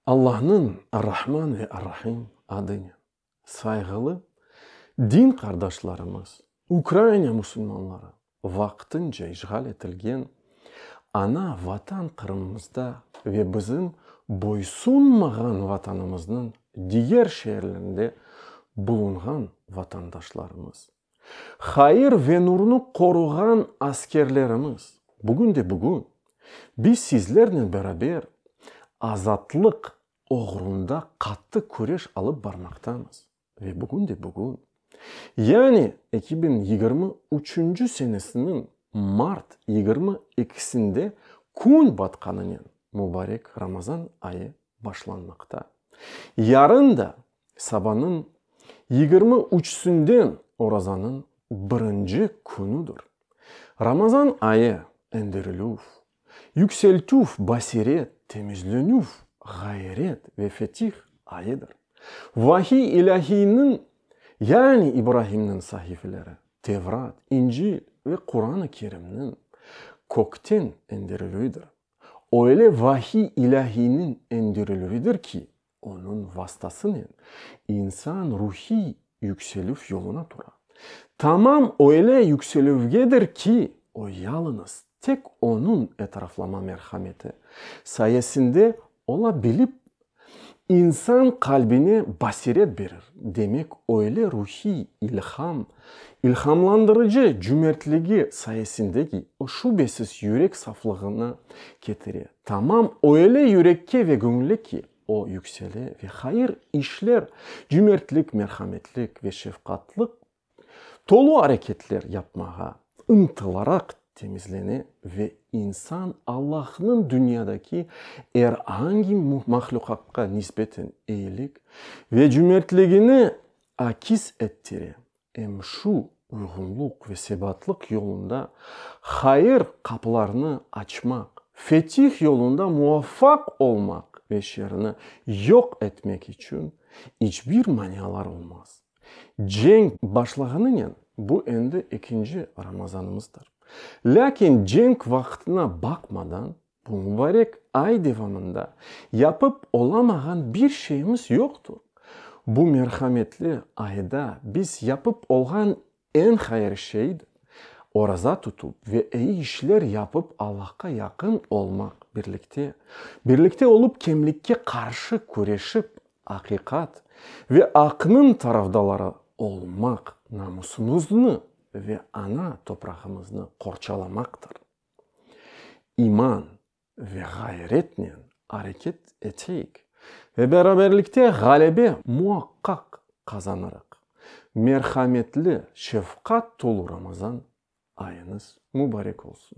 Allahnıñ Ar-Rahman ve Ar-Rahim adınen. Sayğılı din qardaşlarımız, Ukraina musulmanları, vaqtınca işğal etilgen ana Vatan Qırımımızda ve bizim boysunmağan Vatanımıznıñ diger şeerlerinde bulunğan vatandaşlarımız, Hayır ve nurnı qoruğan askerlerimiz, bugün de bugün, biz sizlernen beraber azatlıq oğrunda qattı küreş alıp barmaqtamız ve bugün de bugün, yani eki biñ yigirmi üçünci senesiniñ mart yigirmi ekisinde kün batqanınen mübarek Ramazan ayı başlanmaqta. Yarın da Sabanıñ yigirmi üçüsinden orazanıñ birinci künüdir. Ramazan ayı, endirilüv, yükseltüv, basiret, temizlenüv, ğayret ve fetih ayıdır. Vahiy ilâhiyniñ, yani İbrahimniñ sahifeleri, Tevrat, İncil ve Quran-ı Kerimniñ kökten endirilüvidir. Öyle vahiy ilâhiyniñ endirilüvidir ki. Onıñ vastasınen insan ruhiy yükselüv yoluna tura. Tamam öyle yükselüvgedir ki, o yalıñız tek onıñ etraflama merhameti sayesinde ola bilip, insan qalbine basiret berir, demek öyle ruhiy ilham, ilhamlandırıcı cümertligi sayesinde ki, o şübesiz yürek saflığına ketire. Tamam öyle yürekke ve göñüle ki, o yüksele ve hayır işler, cümertlik, merhametlik ve şefqatlıq tolu areketler yapmağa ıntılaraq temizlene ve insan Allahnıñ dünyadaki er angi mahluqatqa nisbeten eyilik ve cümertligini akis ettire, Em şu uyğunluq ve sebatlıq yolunda hayır qapılarını açmaq, fetih yolunda muvafaq olmaq ve şerni yoq etmek içün iç bir manialar olmaz. Cenk başlağanınen bu endi ekinci Ramazanımızdır. Lâkin cenk vaqtına baqmadan Bu mubarek ay devamında yapıp olamağan bir şeyimiz yoqtur. Bu merhametli ayda biz yapıp olğan eñ hayır şeydir, oraza tutup ve eyi işler yapıp Allahqa yaqın olmaq, birlikte, birlikte olup kemlikke qarşı küreşip, aqiqat ve aqnıñ tarafdaları olmaq, namusımıznı ve ana toprağımıznı qorçalamaqtır. İman ve ğayretnen areket eteyik ve beraberlikte ğalebe muaqqaq qazanırıq. Merhametli, şefqat tolu Ramazan ayıñız mubarek olsun!